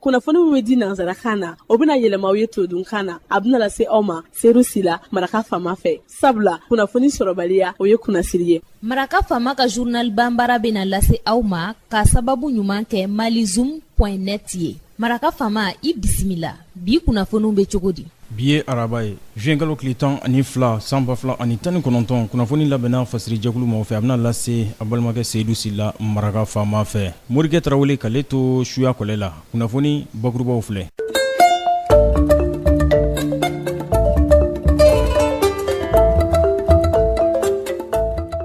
kunnafoni min bɛ di nansarakan na o bɛna yɛlɛma aw ye todunkan na a bɛna lase aw ma seyidu sila maraka faama fɛ sabula kunnafoni sɔrɔbaliya o ye kunnasiri ye maraka faama ka zurnal banbara bɛna lase aw ma ka sababu ɲuman kɛ malizum point net ye maraka faama i bisimila bi kunnafoniw bɛ cogo di bi ye araba ye zuwɛnkalo tile tan ani fila san ba fila ani tan ni kɔnɔntɔn kunnafoni labɛnna fasiri jɛkulu maaw fɛ a bɛna lase aw balimakɛ seyidu sila maraka faama fɛ morikɛ tarawele k'ale to suya kɔlɛ la kunnafoni bakurubaw filɛ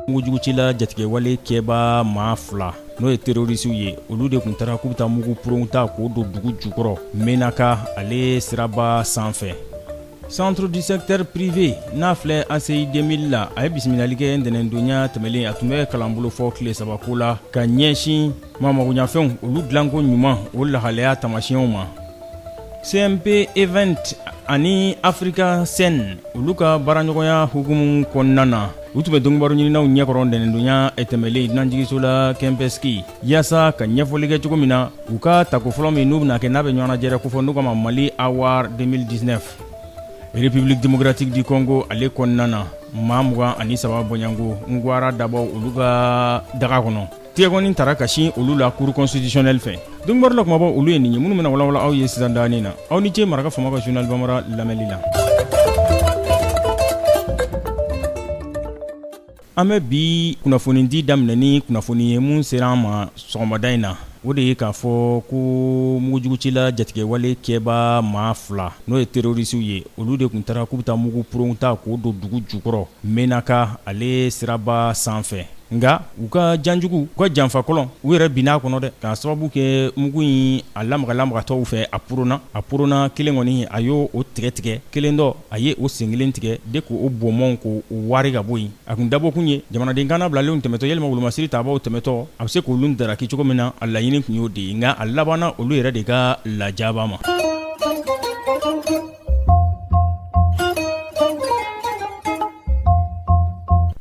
mugujugucila jatigɛwale kɛba maa fila n'o ye terrorisiw ye olu de kun taara k'u bɛ taa mugu purun ta k'o don dugu jukɔrɔ menaka ale siraba sanfɛ centre du secteur privé n'a filɛ ACI 2000 la a ye bisimilali kɛ ntɛnɛndonya tɛmɛlen a tun bɛ kalanbolo fɔ tile saba ko la ka ɲɛsin maamagoɲafɛnw olu dilanko ɲuman o lahalaya taamasiyɛnw ma CMP event ani Africa scène olu ka baaraɲɔgɔnya hukumu kɔnɔna na, u tun bɛ donkibaruɲininaw ɲɛkɔrɔ ntɛnɛndonya tɛmɛnen dunanjigiso la Kɛnpɛsiki, yaasa ka ɲɛfɔli kɛ cogo min na u ka tako fɔlɔ min n'u bɛna kɛ n'a bɛ ɲɔgɔnnajɛrɛ kofɔ n'u k'a ma Mali Award 2019, République démocratique du Congo ale kɔnɔna na, maa mugan ani saba bɔɲɔgɔnko ngwara dabɔw olu ka daga kɔnɔ. Tigɛkɔni tara ka sin olu la cour constitutionnelle fɛ donkibaru la kumabaw olu ye nin ye minnu bɛna walawala aw ye sisan danin na aw ni ce maraka faama ka zurnal banbara lamɛnli la an bɛ bi kunnafoni di daminɛ ni kunnafoni ye min sera an ma sɔgɔmada in na o de ye k'a fɔ ko mugujugucila jatigɛwale kɛba maa fila n'o ye terrorisiw ye olu de kun taara k'u bɛ taa mugu purun ta k'o don dugu jukɔrɔ Menaka ale siraba sanfɛ nka u ka janjugu u ka janfa kɔlɔn u yɛrɛ binna a kɔnɔ dɛ k'a sababu kɛ mugu in a lamagalamagatɔ fɛ a purunna a purunna kelen kɔni a y' o tigɛ tigɛ kelen dɔ a ye o sen kelen tigɛ de k' o bɔnbɔn k' o wari ka bɔ yen a kun dabɔkun ye jamanaden kana bilalenw tɛmɛtɔ walima wolomasiri tabaw tɛmɛtɔ a bɛ se k' olu daraki cogo min na a laɲini kun y'o de ye nka a labanna olu yɛrɛ de ka lajaba ma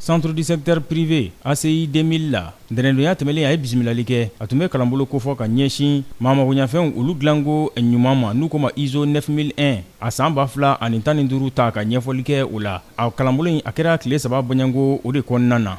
centre du secteur privé ACI 2000 la ntɛnɛndonya tɛmɛlen a ye bisimilali kɛ a tun bɛ kalanbolo kofɔ ka ɲɛsin maamagoɲafɛnw olu dilanko ɲuman ma n'u k'o ma iso 9001 a san ba fila ani tan ni duuru ta ka ɲɛfɔli kɛ o la a kalanbolo in a kɛra tile saba bɔɲɔgɔnko o de kɔnɔna na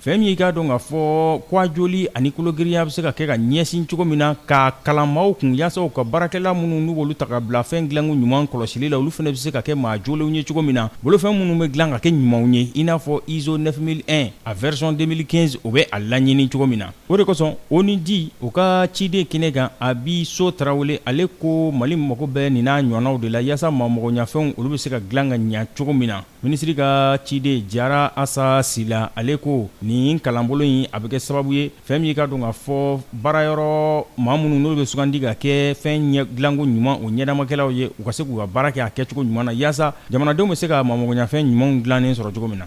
Fɛn min ye i k'a dɔn k'a fɔ ko a jɔli ani kologirinya bɛ se ka kɛ ka ɲɛsin cogo min na, k'a kalan maaw kun yaasa u ka baarakɛla minnu n'u b'olu ta ka bila fɛn dilanko ɲuman kɔlɔsili la, olu fana bɛ se ka kɛ maa jɔlenw ye cogo min na, bolofɛn minnu bɛ dilan ka kɛ ɲumanw ye, i n'a fɔ ISO 9001 a version 2015 o bɛ a laɲini cogo min na. O de kosɔn, ONUDI o ka ciden kɛnɛ kan, Abi So Tarawele, ale ko Mali mago bɛ nin n'a ɲɔɔnnaw de la yaasa maamagoɲafɛnw olu bɛ se ka dilan ka ɲɛ cogo min na. Minisiri ka ciden Jara Asa Sila ale ko nin kalanbolo in a bɛ kɛ sababu ye fɛn min ye i k'a dɔn k'a fɔ baarayɔrɔ maa minnu n'olu bɛ sugandi ka kɛ fɛn ɲɛ dilanko ɲuman o ɲɛdamakɛlaw ye u ka se k'u ka baara kɛ a kɛcogo ɲuman na yaasa jamanadenw bɛ se ka maamagoɲafɛn ɲumanw dilannen sɔrɔ cogo min na.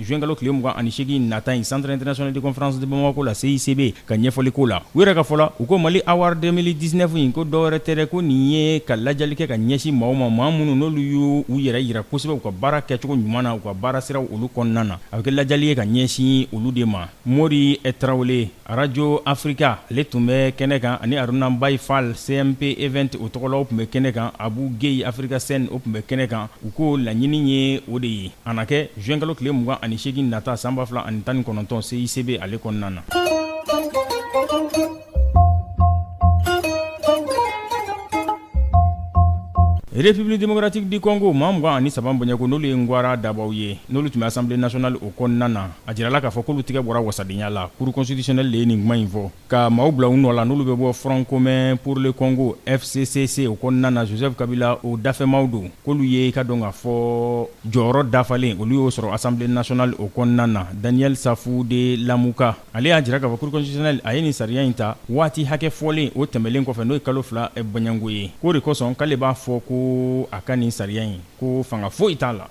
Zuwɛnkalo tile mugan ani segin nata in Centre international de conférence de Bamako la CICB ka ɲɛfɔli ko la u yɛrɛ ka fɔ la u ko Mali Award 2019 in ko dɔwɛrɛ tɛ dɛ ko nin ye ka lajali kɛ ka ɲɛsin maaw ma maa minnu n'olu y'u yɛrɛ yira kosɛbɛ u ka baara kɛcogo ɲuman na u ka baara siraw olu kɔnɔna na a bɛ kɛ lajali ye ka ɲɛsin olu de ma Mori Tarawele Arajo afirika ale tun bɛ kɛnɛ kan ani Haruna Mbaye Fall CMP Event o tɔgɔ la o tun bɛ kɛnɛ kan Abu Gueye Africa Scène o tun bɛ kɛnɛ kan u ko laɲini ye o de ye a na kɛ zuwɛnkalo tile mugan ani segin nata san ba fila ani tan ni kɔnɔntɔn CICB ale kɔnɔna na République démocratique du Congo maa mugan ani saba bɔɲɛko n'olu ye ngwara dabaw ye n'olu tun bɛ Assemblée nationale o kɔnɔna na A jirala k'a fɔ k'olu tigɛ bɔra wasadenya la Cour constitutionnelle de ye nin kuma in fɔ, ka maaw bila u nɔ la n'olu bɛ bɔ Front commun pour le Congo, FCCC, o kɔnɔna na Joseph Kabila o dafɛmaaw don, k'olu ye i k'a dɔn k'a fɔ jɔyɔrɔ dafalen olu y'o sɔrɔ Assemblée nationale o kɔnɔna na. Daniel Safu de Lamuka, ale y'a jira k'a fɔ Cour constitutionnelle a ye nin sariya in ta waati hakɛ fɔlen o tɛmɛlen kɔfɛ, n'o ye kalo fila bɔɲanko ye, k'o de kosɔn k'ale b'a fɔ ko a ka nin sariya in ko fanga foyi t'a la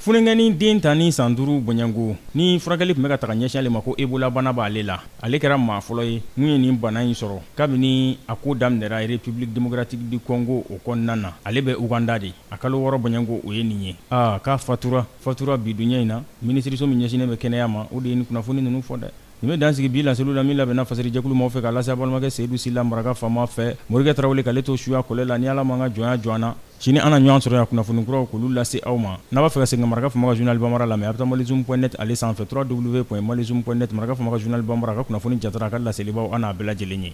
Funankɛnin den tan ni san duuru bɔɲɛko ni furakɛli tun bɛ ka taga ɲɛsin ale ma ko Ebola bana b'ale la ale kɛra maa fɔlɔ ye mun ye nin bana in sɔrɔ kabini a ko daminɛra République démocratique du Congo o kɔnɔna na ale bɛ Ouganda de a kalo wɔɔrɔ bɔɲɛko o ye nin ye aa k'a fatura fatura bi duɲɛ in na minisiriso min ɲɛsinnen bɛ kɛnɛya ma o de ye nin kunnafoni ninnu fɔ dɛ Nin bɛ dan sigi bi laseliw la min labɛnna fasɛrijɛkulu maaw fɛ k'a lase a balimakɛ Seyidu Sila maraka faama fɛ Morikɛ Tarawele k'ale to suya kɔlɛ la ni Ala ma an ka jɔnya jɔ an na sini an na ɲɔgɔn sɔrɔ yan kunnafoni kuraw k'olu lase aw ma n'a b'a fɛ ka segin ka maraka faama ka journal bambara lamɛn a bɛ taa malizoom.net ale sanfɛ www.malizoom.net maraka faama ka journal bambara a ka kunnafoni jara a ka laselibaw n'a bɛɛ lajɛlen ye